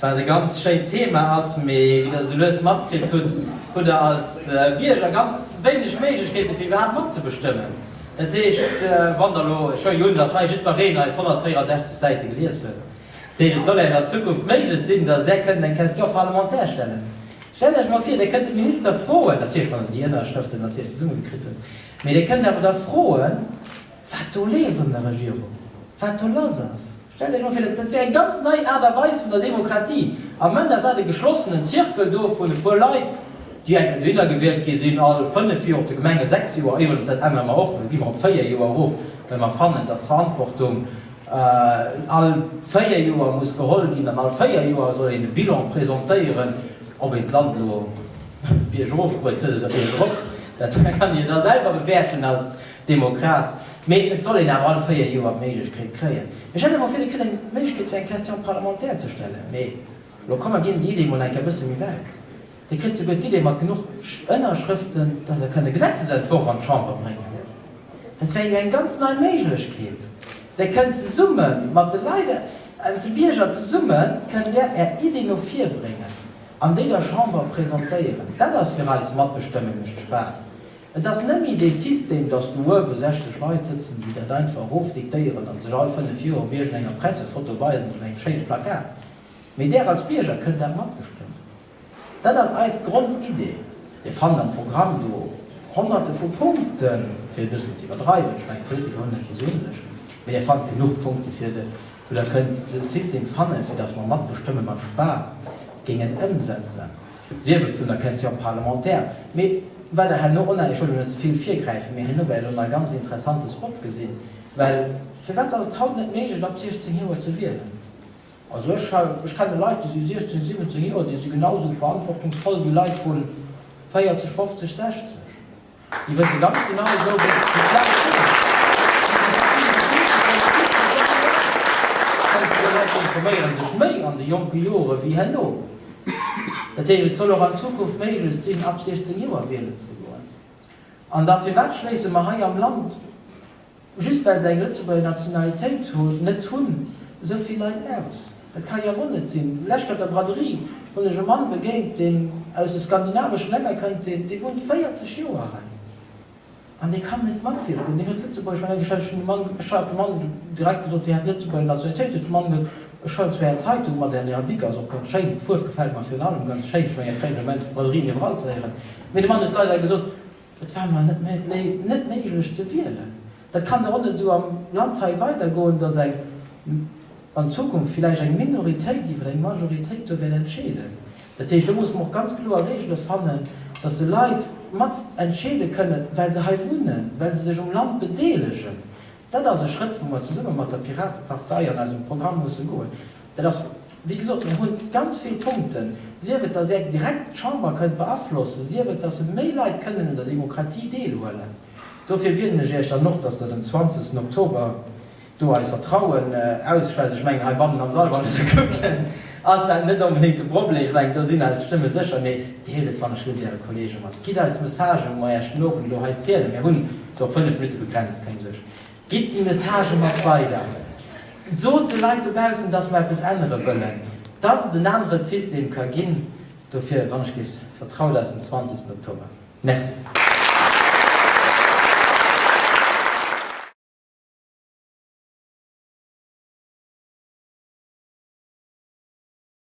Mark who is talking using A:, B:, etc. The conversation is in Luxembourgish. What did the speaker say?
A: Wat e ganz schéint Thema ass, mee wéi der esou lues matkritt hutt, hutt der als Bierger ganz wéineg Méiglechkeete fir iwwerhaapt matzebestëmmen. Dat heescht, wann der elo, ech huelen jo un, datt hei jiddwereen eis 164 Säite gelies huet, dat heescht, et soll engem an Zukunft méiglech sinn, datt där kënnt eng Question parlementaire stellen. Stellt Iech emol vir, Dir kënnt de Minister froen, natierlech wann Der déi Ënnerschrëften natierlech zesummegekritt hutt, mee Dir kënnt awer da froen, wat do leeft an der Regierung, wat do lass ass. Stellt Iech mol vir, dat wier eng ganz nei Aart a Weis vun der Demokratie. Am Ende ass dat e geschlossenen Zirkel do vun e puer Leit, déi enken dohinner gewielt gi sinn, all fënnef Joer, op de Gemenge sechs Joer, éiwuelens, dat ännere mer och, do gi mer op véier Joer erof, well mer fannen, dass d'Verantwortung all véier Joer muss geholl ginn an all véier Joer soll een e Bilan presentéieren, ob een d'Land elo biergof bruet huet oder biergerop, dat kann Dir da selwer bewäerten als Demokrat, mee et soll een awer all véier Joer d'Méiglechkeet kréien. Ech hätt awer villekil eng Méiglechkeet fir eng Question parlementaire ze stellen, mee elo kommen ginn déi Idee mol eng Kéier e bësse méi wäit. Dir kritt souguer d'Idee mat genuch Ënnerschrëften, dass Der kënnt e Gesetzesentworf an d'Chamber bréngen. Dat wär jo eng ganz nei Méiglechkeet. Der kënnt zesumme mat de Leit, mat de Bierger zesumme kënnt Der Är Ideen no vir bréngen an déi der Chamber presentéieren. Dat ass fir eis Matbestëmmen, mécht Spaass. Et ass net méi dee System, datt do uewe 60 Leit sëtzen, déi dat einfach erofdiktéieren an sech all fënnef Joer op iergend enger Pressefoto weisen oder engem schéine Plakat, mee Där als Bierger kënnt dat matbestëmmen. Dat ass eis Grondidee. Dir fannt am Programm do Honnerte vu Punkten, fir e bëssen ze iwwerdreiwen, ech mengen, d'Politiker hunn dat jo esou un sech, mee Dir fannt genuch Punkte, fir de wou Der kënnt e System fannen, fir datt mer matbestëmme mat Spaass géingen ëmsetzen. Sief et vun der Question parlementaire, mee wat Der herno onhalen, ech wëll do net ze vill virgräifen, mee herno wäert Der elo nach ganz interessante Spots gesinn, well firwat ass et haut net méiglech ab 16 Joer ze wielen? Also ech ha, ech kenne Leit, déi si 16, 17 Joer, déi si genau esou verantwortungsvoll wéi Leit vu 40, 50, 60. Déi wësse ganz genau esou wéi ech déi Plaz kritt hunn. Déi verschidde Politiker, déi ëmmer zoutrieden, déi Leit informéiere sech méi an de jonke Jore wéi herno. Dat heescht, et soll och an Zukunft méiglech sinn, ab 16 Joer wielen ze goen. An da firwat schléisse mer hei am Land? Just well se eng Lëtzebuerger Nationalitéit net hunn, esou vill Leit aus? Dat ka jo wuel net sinn. Lech bei der Braderie hunn ech e Mann begéint, deen aus de skandinaveschen Länner kënnt, dee wunnt 40 Joer hei an dee kann net matwierken. Deen huet Lëtzebuergesch mat engem Schwäizeschen Mann, ech hat dem Mann direkt gesot, Dir hätt d'Lëtzebuerger Nationalitéit. Huet de Mann gesot, Ech hëllen zwar Är Zeitung mat an Äre Bic ass och ganz schéin, d'Fuerf gefält mer virun allem ganz schéin, ech mengen dat kréien ech am Enn op der Braderie iwwerall ze héieren, mee de Mann huet leider gesot, Et war mar net méi net méiglech ze wielen. Dat kann der och net esou am Land hei weidergoen, datt eng, an Zukunft villäicht eng Minoritéit iwwer eng Majoritéit do wäert entscheeden. Dat heescht, do muss mer och ganz kloer Regele fannen, datt se Leit mat entscheede kënnen, well se hei wunnen, well se sech um Land bedeelegen. Dat ass e Schrëtt, wou mer zesumme mat der Piratepartei an eisem Programm musse goen. Dat ass, wéi gesot, mir hu ganz vill Punkten, sief et, datt Där direkt d'Chamber kënnt beaflossen, sief et, datt se méi Leit kënnen un der Demokratie deelhuelen. Dofir bieden ech Iech dann och, datt Der den 20 Oktober do eis Vertrauen ausschwätzt. Ech mengen, heibannen am Sall, wann ech esou kucken, ass dat net onbedéngt de Problem. Ech mengen, do sinn eis Stëmme sécher. Mee deelt et wann ech wëll Äre Kolleege mat. Gitt eis Messagë wou mer Iech den Owend elo hei zielen. Mir hunn Sou op 5 Minutte begrenzt, keng Suerg. Gitt déi Messagë mat weider. Sot de Leit dobaussen, datt mer eppes ännere wëllen. Datt et en anere System ka ginn. Dofir, wann ech géif vertraut, ass den 20 Oktober. Merci.